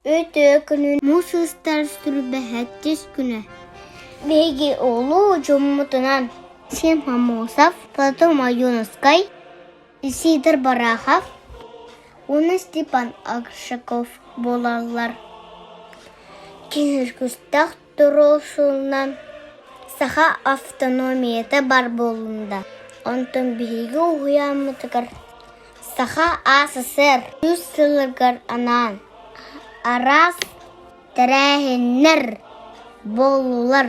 Өтө күнүн муус устар силбэһэттис күнэ Биһиги улуу дьоммутунан Сим Хамосов, Платон Майоновскай, Исидор Барахов уонна Степан Акшаков буолаллар. Кинилэр кустах туруорсуунан саха автономията баар буолунда. Онтон биһиги уһуйааммытыгар Саха СССР үс сылыгар анаан араас тэрээһиннэр буоллулар.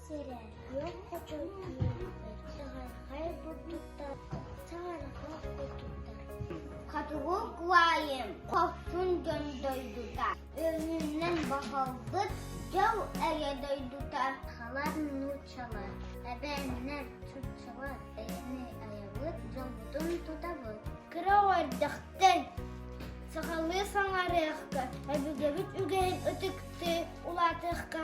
сирэ күөх хочох үөрбүттэр чаҕархай бурдуктар чаҕархай бурдуктар хотугу куойм хорсун дьон дойдута өҥүнэн баһылбыт дьыл эгэ дойдута халар нууччалар эбээннэр чуччалар эйэни айабыт дьоммутун тутабыт кыра уордахтан сахалыы саҥарыахха эбигэбит үгэһин ытыктыы улаатыахха